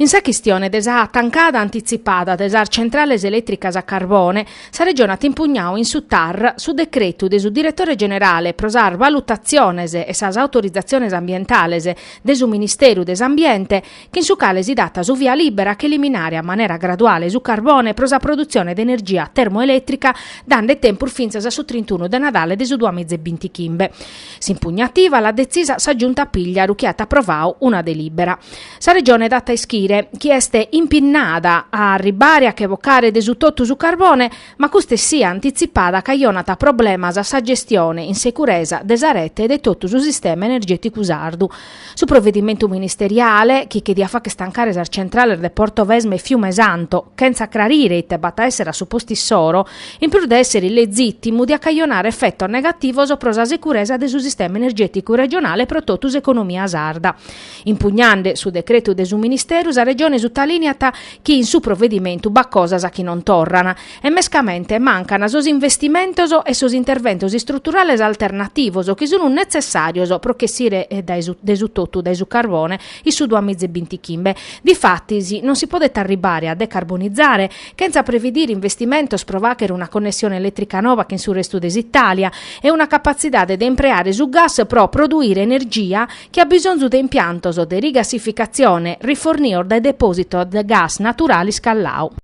In sa chistione de sa tancada antitzipada de sas centrales elètricas a carbone, sa Regione at impugnadu in su tar su decretu de su Diretore Generale pro sas valutatziones e sas autorizatziones ambientales de su Ministeru de s'Ambiente, chin su cale si dat su via lìbera a ch'eliminare a manera graduale su carbone pro sa produtzione de energia termoelètrica dande tempus fintzas a su trintunu de Nadale de su duamiza e bintichimbe. S'impugnativa l'at detzisa sa Giunta Pìgliaru chi at aprovadu una delìbera. Sa Regione dat a ischire chi est impinnada a arribare a che bocare de su totu su carbone, ma custa essia antitzipada cajonat problemas a sa gestione in seguresa de sa rete e de totu su sistema energèticu sardu, Su provedimentu ministeriale, chi che diat fagher tancare sas centrales de Portovesme e Fiumesanto, chentza crarire ite b'at a èssere a su postu issoro, in prus de èssere illegìtimu, diat cajonare efetos negativos pro sa seguresa de su sistema energèticu regionale e pro totu s'economia sarda. Impugnande su decretu de su Ministeru, sa Regione sutalìniat chi in su provedimentu b'at cosas chi non torran, E mescamente mancan sos investimentos e sos interventos istruturales alternativos chi sun netzessàrios pro ch'essire de su totu dae su carbone in su duamiza e bintichimbe. Difatis, non si podet arribbare a decarbonizare chentza previdire investimentos pro fàghere una connessione elètrica nova chin su restu de s'Itàlia e una capatzidade de impreare su gas pro produire energia chi at bisonzu de impiantos de rigassificatzione rifornios dae depòsitos de gas naturale iscalladu.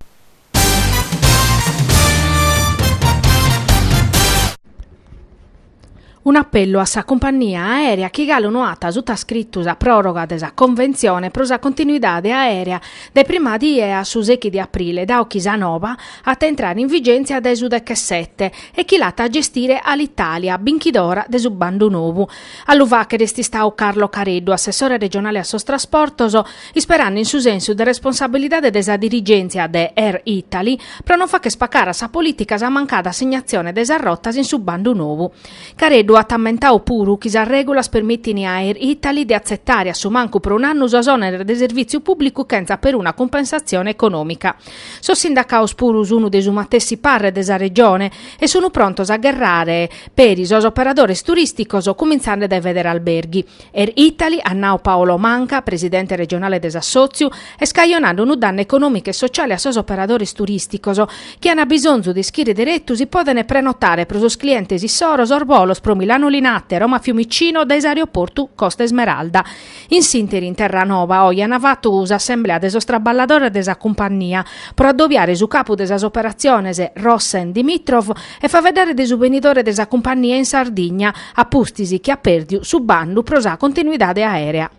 Un'apellu a sa cumpannia aèrea chi galu no at sutascritu sa pròroga de sa conventzione pro sa continuidade aèrea dae prima die a su sechi de aprile, dadu chi sa noba at a intrare in vigèntzia dae su dechesete, e chi l'at a gestire Alitalia, binchidora de su bandu novu. A lu fàghere est istadu Carlo Careddu, assessore regionale a sos trasportos, isperande in su sensu de responsabilidade de sa dirigèntzia de Air Italy pro non fagher pacare a sa polìtica sa mancada assignazione de sas rotas in su bandu novu. Careddu at ammentadu puru chi sas règulas permitint a Air Italy de atzetare a su mancu pro un'annu sos òneres de servìtziu pùblicu chentza peruna cumpensatzione econòmica. Sos sindacados puru sunt de su matessi parre de sa Regione e sunt prontos a gherrare peri sos operadores turìsticos cumintzande dae Federalberghi. Air Italy, at nau Paolo Manca, presidente regionale de s'assòtziu, est cajonande unu dannu econòmicu e sociale a sos operadores turìsticos, chi ant bisonzu de ischire deretu si podent prenotare pro sos clientes issoros sos bolos pro Milano Linate, Roma Fiumicino dae s'aeroportu Costa Smeralda. In s'ìnteri in Terranova oi ant fatu s'assemblea de sos traballadores de sa cumpannia pro addobiare su capu de sas operatziones, Rossen Dimitrov, E faveddare de su benidore de sa cumpannia in Sardigna, a pustis chi at pèrdiu su bandu pro sa continuidade aèrea.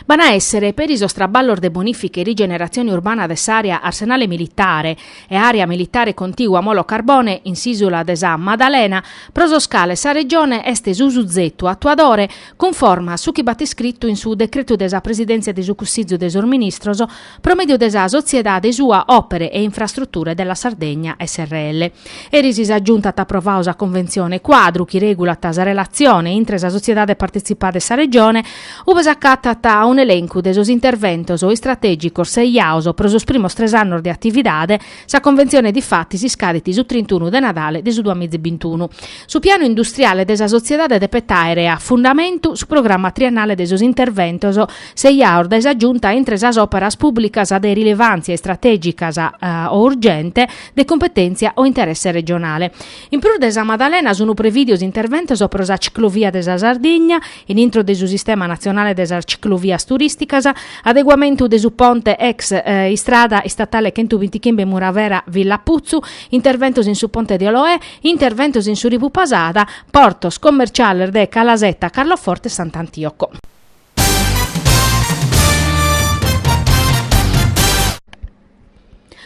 B'an a èssere, peri sos traballos de bonìfica e rigeneratzione urbana de s'àrea Arsenale Militare e Àrea Militare Contigua Molo Carbone in s'ìsula de sa Maddalena, pro sos cales sa Regione est su suzetu atuadore, cunforma a su chi b'at iscritu in su Decretu de sa Presidèntzia de su Cussìgiu de sos Ministros pro mèdiu de sa sotziedade sua Opere e Infrastrutture della Sardegna srl. Eris sa Giunta at aprovadu sa Conventzione Cuadru chi regulat sa relatzione intre sa sotziedade partitzipada e sa Regione, ue s'acatat un'elencu de sos interventos istratègicos seiados pro sos primos tres annos de atividade, Sa conventzione difatis iscadit su trintunu de Nadale de su duamizibintunu. Su pianu industriale de sa sotziedade depet àere a fundamentu su programma triennale de sos interventos seiados dae sa Giunta intre sas òperas pùblicas de rilevàntzia istratègicas o urgente de cumpetèntzia o interesse regionale. In prus de Sa Madalena sunt prevìdios interventos pro sa ciclovia de sa Sardigna, in intro de su sistema natzionale de sas ciclovias turìsticas, adeguamentu de su ponte ex istrada istatale chentubintichimbe Muravera-Villaputzu, interventos in su ponte de Oloè, interventos in su Rivu Pasada, portos commerciales de Calasetta, Carloforte e Sant'Antioco.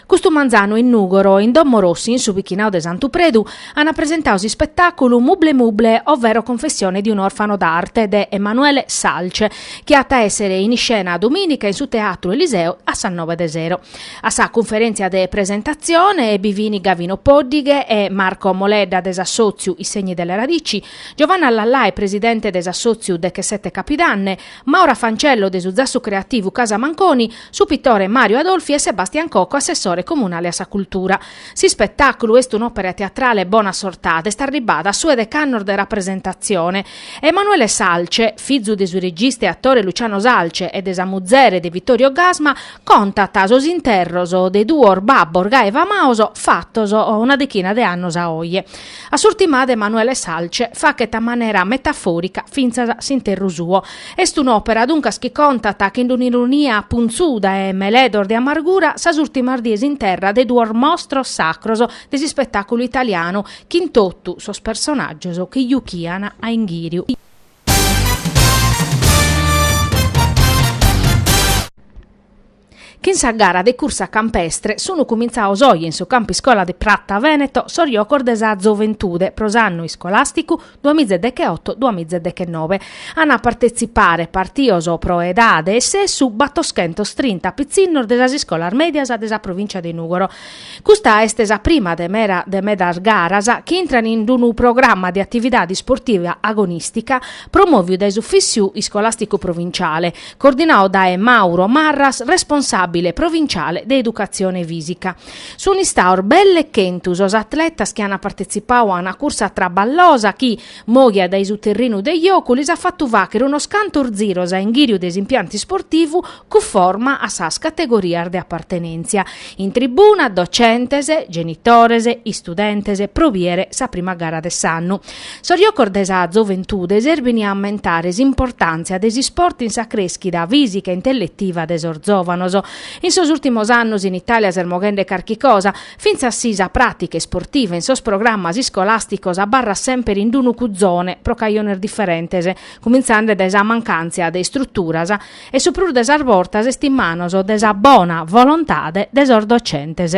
Custu manzanu in Nùgoro, in Domo Rossi, in su pichinau de Santu Predu, ant presentau s'ispetàculu Mumble Mumble, ovvero Confessione di un orfano d'arte de Emanuele Salce, chi at a èssere in iscena domìnica in su Teatru Eliseo a sas noe de sero. A sa cunferèntzia de presentatzione bi fint Gavino Pòddighe e Marco Moledda de s'assòtziu I Segni delle Radici, Giovanna Lallai presidente de s'assòtziu Dechesette Capidanne, Maura Fancello de su Zassu Creativu Casa Manconi, su pitore Mario Adolfi e Sebastian Cocco, assessore comunale a sa cultura. S'ispetàculu est un'òpera teatrale bona sortada, est arribbada a su 'e dec'annos de rapresentatzione. Emanuele Salce, fizu de su regista e atore Luciano Salce e de sa muzere de Vittorio Gassman, contat sos interros de duos babbos gai famados fatos una dechina de annos a oje. A s'urtimada Emanuele Salce faghet a manera metafòrica fintzas s'interru suo, Est un'òpera, duncas, chi contat, chin d'un'ironia puntzuda e meledos de amargura, sas ùrtimas dies in terra de duos mostros sacros de s'ispetàculu italianu, chin totu sos personàgios chi juchian a inghìriu. Chin sa gara de cursa campestre sunu cumintzaos oje in su Campu Iscola de Pratta Veneto sos jocos de sa Zoventude pro s'annu iscolasticu duas miza e decheoto duas miza e dechenove. An a partetzipare, partios pro edade e sessu, battoschentos trinta pitzinnos de sas iscolas medias de sa Provincia de Nugoro. Custa est sa prima de meda de medas garas chi intran in d'unu programma de atividade isportiva agonìstica promoviu dae s'Ufissiu Iscolasticu Provinciale, coordinau dae Mauro Marras, responsàbile provinciale de educatzione fìsica. Sunt istaos belle chentu sos atletas chi ant partetzipau a una cursa traballosa chi, moghia dae su terrinu de jocu, lis at fatu fàchere unos cantos ziros a inghìriu de s'impiantu isportivu cuforma a sas categorias de apartenèntzia. In tribuna, docentes, genitores, istudentes pro biere sa prima gara de s'annu. Sos jocos de sa zoventude serbin a ammentare s'importàntzia de s'isport in sa crèschida fìsica e intelletiva de sos zòvanos. In sos ùltimos annos in Itàlia s'est moghende carchi cosa, fintzas si sa pràtica isportiva in sos programmas iscolàsticos abarrat sempre in d'unu cuzone pro cajones diferentes, cumintzande dae sa mancàntzia de istruturas e su prus de sas bortas est in manos de sa bona volontade de sos docentes.